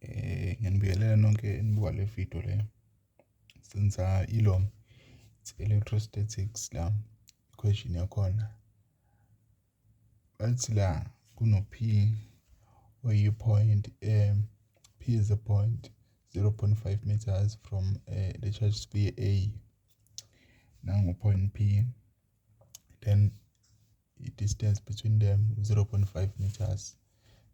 Eh, ngiyanibingelela nonke enibuka le video le. Senza ilo, it's electrostatics la, question yakhona. Bathi la kuno-P oyi-point, eh, P is a point 0.5 meters from uh, the charge sphere A. Nangu point P. Then i-distance between them 0.5 meters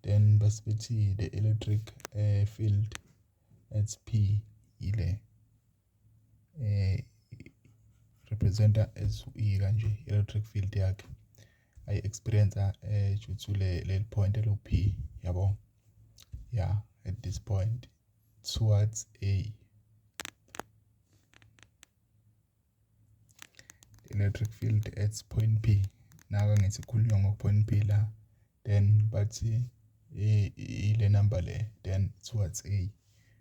then bese bethi the electric uh, field at p ile eh representa as i kanje electric field yakhe i experience eh due to le le point lo p yabo yeah at this point towards a electric field at point p naka ngithi khulunywa ngo-point p la then bathi ile number le then towards a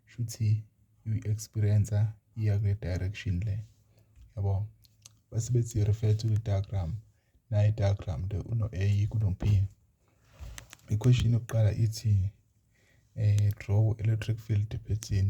shuthi uyi-experience iya kule direction le yabo base bethi refer to the diagram nayi diagram le uno-a kuno-p i-question yokuqala ithi um draw electric field pattern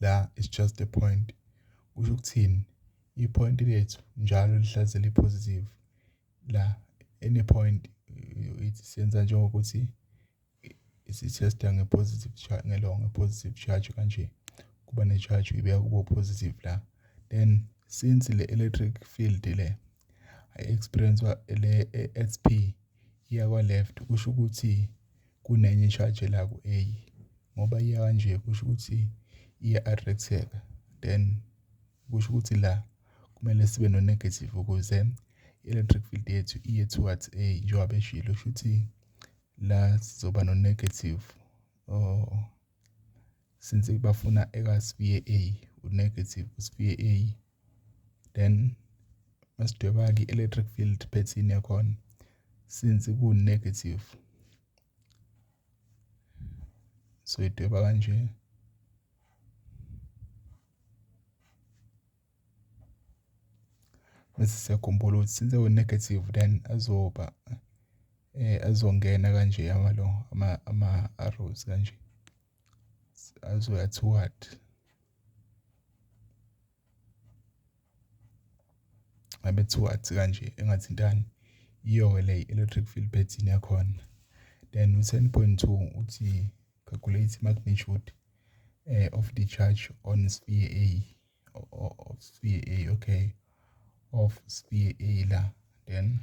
la is just a point. Kusho ukuthini? I-point lethu njalo lihlaze li-positive. La any point senza njengokuthi sithesta nge-positive charge ngelongo nge-positive charge kanje kuba ne-charge uyibeka kubo positive la then since le electric field le i-experience le-SP iya kwa-left kusho ukuthi kunenye eshajelaku eyi ngoba iya kanje kusho ukuthi iya-attract-eka then kusho ukuthi la kumele sibe no-negative ukuze i-electric field yethu iye towards A njengoba beshilo. Shuthi la sizoba no-negative or since bafuna eka sibiye A u-negative sibiye A then masidweba ke electric field pattern yakhona since ku negative so idweba kanje bese siyakhumbula ukuthi since we negative then azoba eh azongena kanje amalo ama ama arrows kanje azoya to what ngabe to what kanje engathintani iyoke le electric field pattern yakhona then u-10.2 uthi calculate magnitude uh, of the charge on sphere A of sphere A okay of sphere A la then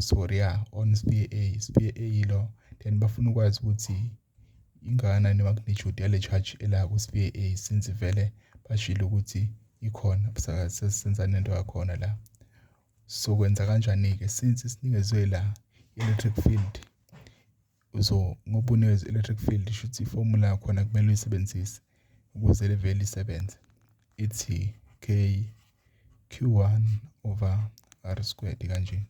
Sorry, ya on Sphe A, Sphe A yilo then bafuna ukwazi ukuthi ingakanani i-magnitude yale charge ela ku-Sphe A since vele bashilo ukuthi ikhona sesenza nento yakhona la. Sokwenza kanjani-ke since sinikezwe la i-electric field So ngoba unezi electric field shuthi i-formula yakhona kumele uyisebenzise ukuze livele isebenze. Ithi K Q one over R squared kanje.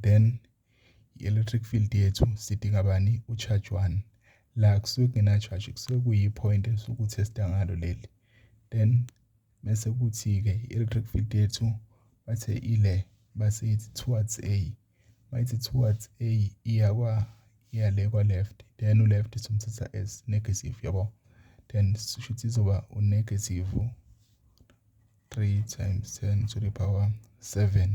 Then i-electric field yethu sidinga bani u-charge one. La kusuke kungena-charge kusuke kuyi-point esuke uthesta ngalo leli. Then mese kuthi-ke i-electric field yethu bathe ile base ithi towards A. Mayithi towards A iya kwa iya le kwa left then u left somthatha as negative yabo. Then shuthi izoba u negative 3 times 10 to the power 7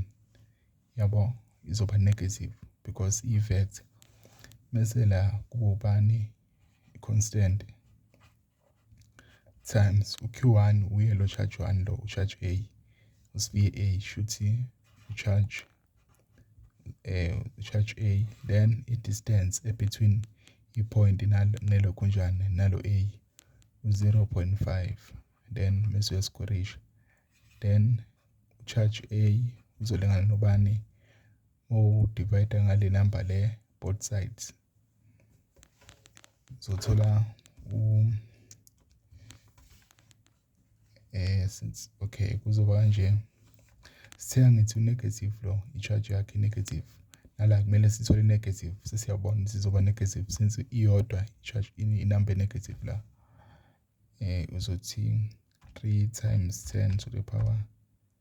yabo izoba negative because i vector. Mase la kubani constant Times uq one uye lo charge one lo u-charge A, uSibiya A shuthi u-charge u-charge A then i-distance e-between i-point nelokhunjana nalo A u-zero point five then mese uyasikorisha. Then u-charge A uzolingana nobani mowudivayida ngale namba le both sides. Zothola u eh since okay kuzoba kanje. Sithe ngithi u-negative lo i-charge yakhe i-negative. Nala kumele sithole i-negative sesiyabona ukuthi izoba negative since iyodwa i-charge inamba e-negative la. Uzothi three times ten to the power.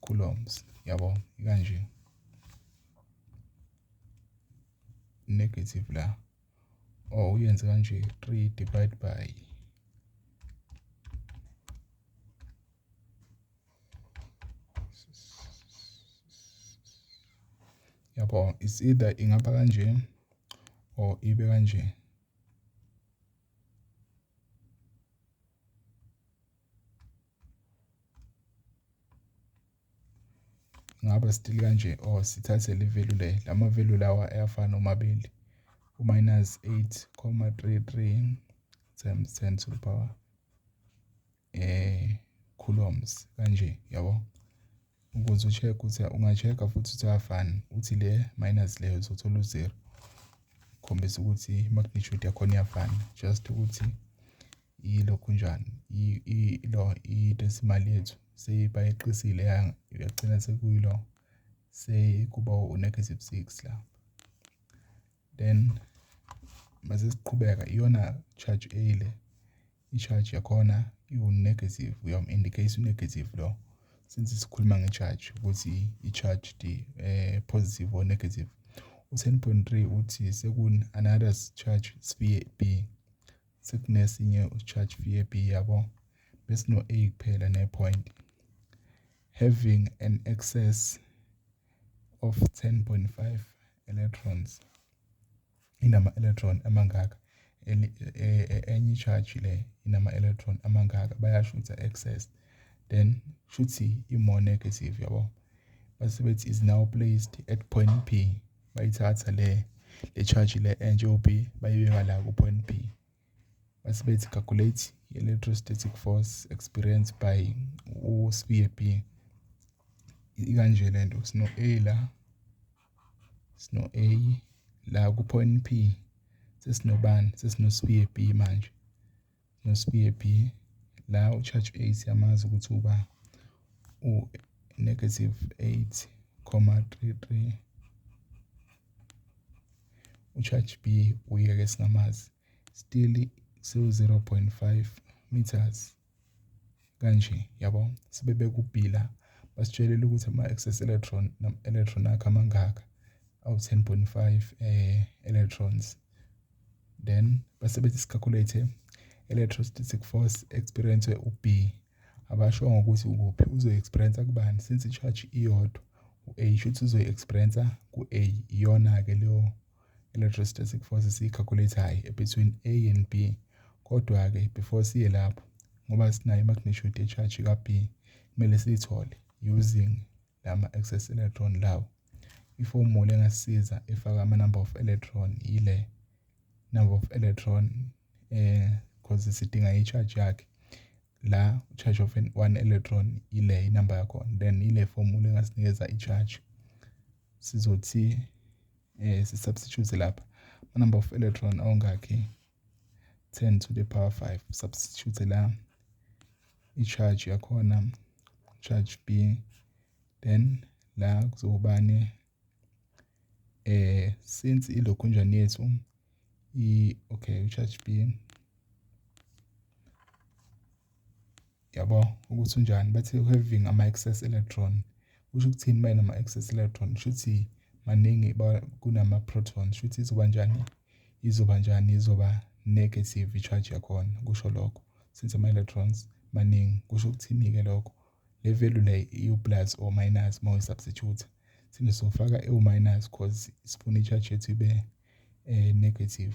coulombs yabo kanje negative la or oh, uyenze kanje 3 divide by yabo is either ingaba kanje or ibe kanje Ngaba still kanje or sithathe le value le. La ma-value lawa ayafana omabili. U-minus 8,33 times 10 to the power eh coulombs kanje yabo. Ukuze u-check ukuthi unga-check-a futhi ukuthi ayafana. Uthi le minus le uzothola u-zero. Khombisa ukuthi i-magnitude yakhona iyafana just ukuthi Yilokhu njani? Yilo idonsa imali yethu. Sebayeqisile yagcina sekuyilo sekuba u-negative six la. Then mase siqhubeka iyona charge A le. I-charge yakhona iwu-negative, uyamu-indicate u-negative lo. Since sikhuluma nge-charge ukuthi i-charge positive or negative. U-ten point three uthi seku-another charge sibiye B. sekunesinye u-charge VAB yabo besino-A kuphela ne-point having an excess of 10.5 electrons inama-electron amangaka e, e, e, enye i-charge le inama-electron amangaka bayasho ukuthi a-excess then shuthi i-more negative yabo base bethi is now placed at point P bayithatha le le charge le entsha o-B bayibeka la ku-point B. Base bethi calculate electrostatic force experienced by uSibiye B. Ikanje le nto sino A la sino A la ku-point P sesinobani sesinosibiye B manje. noSibiye B la uCharge Ace yamazi ukuthi uba u-negative 8,33 uCharge B uyeke singamazi still siwu-0.5 meters kanje yabo sebebekubhila basitshelile ukuthi ama-excess electron electron akhe amangaka awu-10.5 eh electrons then basebenza isicalculator electrostatic force experience u-B abasho ngokuthi ukuphi uzoyi-experience kubani since i-charge iyodwa u-A shuthi uzoyi-experience ku-A iyona-ke leyo electrostatic force siyi-calculate-ayo between A and B kodwa-ke before siye lapho ngoba sinayo i-magnitude ye-charge ka-B kumele siyithole using lama-excess electron lawo i-formula engasisiza efaka ama-number of electron yile number of electron eh cause sidinga i-charge yakhe la charge of one electron ile inamba yakhona then ile formula engasinikeza i-charge sizothi eh si-substitute lapha ama-number of electron ongakhi 10 to the power 5 substitute la i-charge yakhona charge b then la kuzobani eh since ilokhunjani yethu i okay u-charge b Yabo ukuthi unjani bathi having ama-excess electron kusho ukuthini uma enama-excess electron kusho ukuthi maningi kunama-proton kusho ukuthi izoba njani izoba njani izoba negative i-charge yakhona kusho lokho since ama-electrons maningi kusho ukuthini-ke lokho le value le iwu-plus or minus uma uyi-substitute sine sofaka ewu-minus cause sifuna i-charge yethu ibe um negative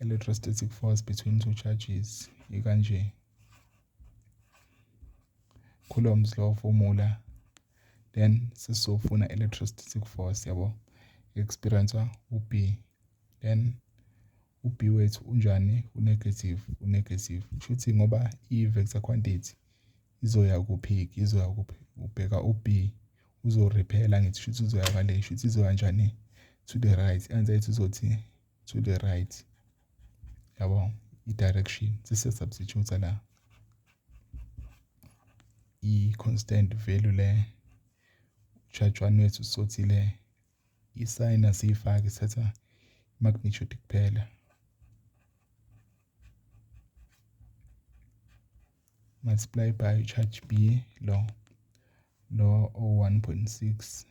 electrostatic force between two charges ikanje coulombs law formula then sesizofuna electrostatic force yabo experiencer ub then ub wethu unjani unegative unegative kushuthi ngoba i-vector quantity izoya kuphi izoya kuphi ubheka ub uzorephela ngithi shuthi uzoya kale shuthi izoya njani to the right answer yethu izothi to the right yabo i-direction sise-substitute la i-constant value le utshatshwani wethu sothi le isayini asiyifaki sithatha i-magnitude kuphela multiply by charge b lo lo o-1.6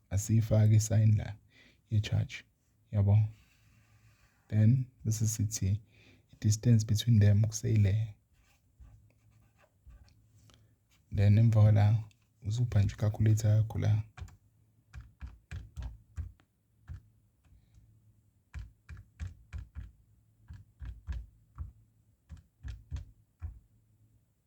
asiyifaki i-sign la ye-charge yabo then bese sithi i-distance between them kuseyile then emva kwala uzupha nje i-calculator yakho la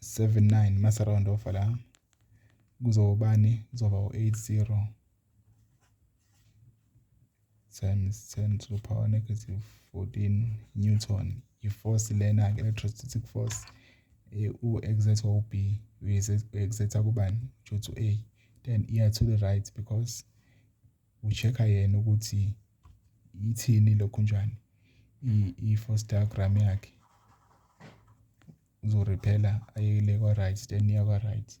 79 mase round off la kuzobani kuzoba u80 times 10 to the power negative 14 newton iforce lena ke electrostatic force eh, u-exerta u-b u-exerta kubani ujothi u-a then iya to the right because ucheck-a yena ukuthi ithini lokhunjani i-foster gram yakhe uzorephela ayekele kwa-right then iya kwa-right.